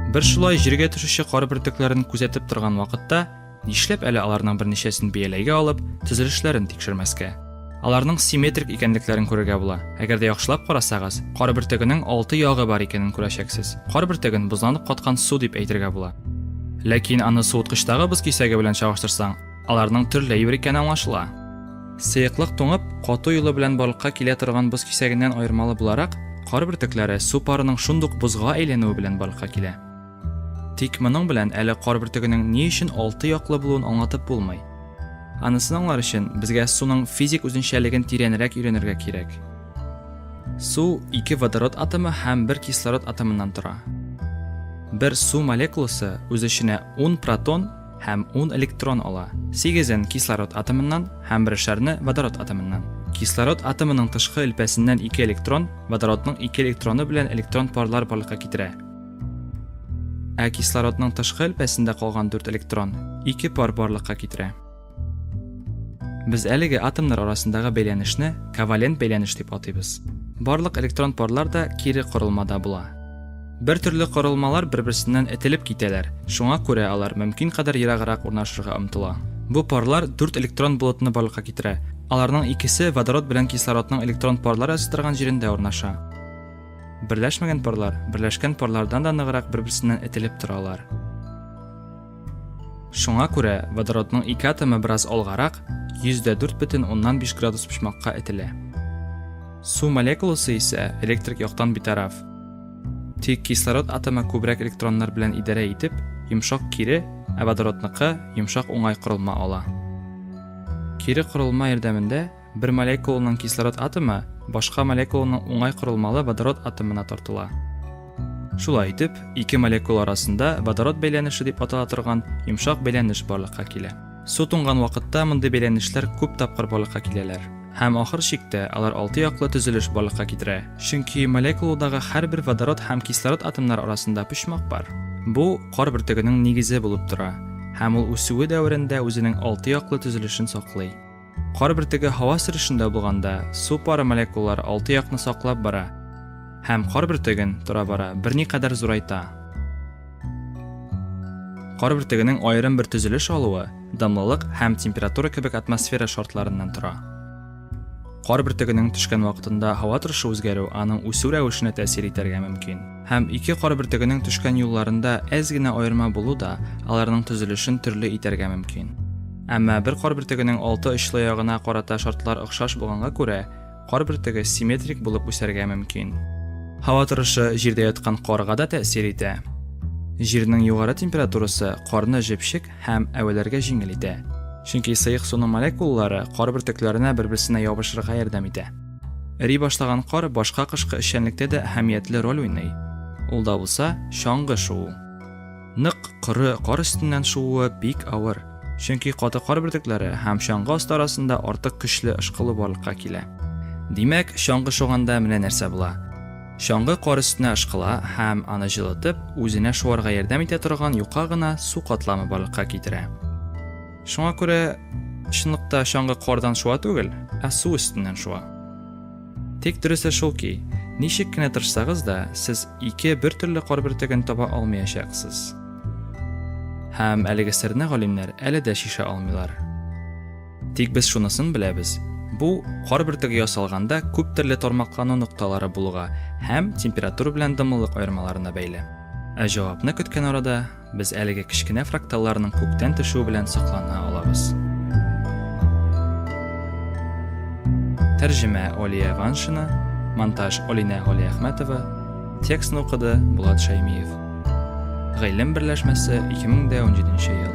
Бер шулай җиргә төшүче кар бөртекләрен күзәтеп торган вакытта, нишләп әле аларның берничәсен бияләйгә алып, төзелешләрен тикшермәскә? Аларның симметрик икәнлекләрен күрергә була. Әгәр дә яхшылап карасагыз, кар бөртегенең алты ягы бар икәнен күрәчәксез. Кар бөртеген бозланып каткан су дип әйтергә була. Ләкин аны суыткычтагы боз кисәге белән чагыштырсаң, Аларның төрле юр икәне аңлашыла. Сыеклык туңып, кату юлы белән барлыкка килә торган боз кисәгеннән аермалы буларак, кар бөртекләре су парының шундук бозга әйләнүе белән барлыкка килә. Тик моның белән әле кар бөртегенең ни өчен алты яклы булуын аңлатып булмый. Анысын аңлар өчен безгә суның физик үзенчәлеген тирәнрәк өйрәнергә кирәк. Су ике водород атомы һәм бер кислород атомыннан тора. Бер су молекуласы үз эченә 10 протон һәм ун электрон ала, сигезен кислород атомыннан һәм берешәрне водород атомыннан. Кислород атомының тышкы элпәсеннән ике электрон водородның ике электроны белән электрон парлар барлыкка китерә. Ә кислородның тышкы элпәсендә калган дүрт электрон ике пар барлыкка китерә. Без әлеге атомнар арасындагы бәйләнешне ковалент бәйләнеш дип атыйбыз. Барлык электрон парлар да кире корылмада була. Бер төрле корылмалар бер-берсеннән этелеп китәләр, шуңа күрә алар мөмкин кадәр ераграк урнашырга омтыла. Бу парлар дүрт электрон болытны барлыкка китерә, аларның икесе водород белән кислородның электрон парлар ясый торган җирендә урнаша. Берләшмәгән парлар берләшкән парлардан да ныграк бер-берсеннән этелеп торалар. Шуңа күрә водородның ике атомы бераз алгарак, 104,5 градус почмакка этелә. Су молекуласы исә электрик яктан битараф, Тик кислород атомы күбрәк электроннар белән идарә итеп, йомшак кире, ә водородныкы йомшак уңай корылма ала. Кире корылма ярдәмендә бер молекуланың кислород атомы башка молекуланың уңай корылмалы водород атомына тартыла. Шулай итеп, ике молекула арасында водород бәйләнеше дип атала торган йомшак бәйләнеш барлыкка килә. Су туңган вакытта мондый бәйләнешләр күп тапкыр барлыкка киләләр. Һәм ахыр чиктә алар алты яклы төзелеш барлыкка китерә, чөнки молекулудагы һәрбер водород һәм кислород атомнары арасында почмак бар. Бу кар бөртегенең нигезе булып тора, һәм ул үсүе дәверендә үзенең алты яклы төзелешен саклый. Кар бөртеге һава сөрүшендә булганда, су пары молекулалары алты якны саклап бара һәм кар бөртеген тора-бара берникадәр зурайта. Кар бөртегенең аерым бер төзелеш алуы дымлылык һәм температура кебек атмосфера шартларыннан тора. Кар бөртегенең төшкән вакытында һава торышы үзгәрү аның үсү рәвешенә тәэсир итәргә мөмкин. Һәм ике кар бөртегенең төшкән юлларында әз генә аерма булу да аларның төзелешен төрле итәргә мөмкин. Әмма бер кар бөртегенең алты очлы ягына карата шартлар охшаш булганга күрә, кар бөртеге симметрик булып үсәргә мөмкин. Һава торышы җирдә яткан карга да тәэсир итә. Җирнең югары температурасы карны җепшек һәм әвәләргә җиңел итә, чөнки сыек суның молекулалары кар бөртекләренә бер-берсенә ябышырга ярдәм итә. Эри башлаган кар башка кышкы эшчәнлектә дә әһәмиятле роль уйный. Ул да булса, чаңгы шуу. Нык, коры кар өстеннән шууы бик авыр, чөнки каты кар бөртекләре һәм чаңгы асты арасында артык көчле ышкылу барлыкка килә. Димәк, чаңгы шуганда менә нәрсә була. Чаңгы кар өстенә ышкыла һәм аны җылытып, үзенә шуарга ярдәм итә торган юка гына су катламы барлыкка китерә. Шуңа күрә чынлыкта чаңгы кардан шуа түгел, ә су өстеннән шуа. Тик дөресе шул ки, ничек кенә тырышсагыз да, сез ике бер төрле кар бөртеген таба алмаячаксыз. Һәм әлеге серне галимнәр әле дә шиша алмыйлар. Тик без шунысын беләбез, бу кар бөртеге ясалганда күп төрле тармаклану нокталары булуга һәм температура белән дымлылык аермаларына бәйле. Ә җавапны көткән арада Без әлеге кечкенә фракталларның күктән төшүе белән соклана алабыз. Тәрҗемә Олия Ваншина, монтаж Олинә Галиәхмәтова, текстны укыды Булат Шәймиев. Гыйлем берләшмәсе 2017 ел.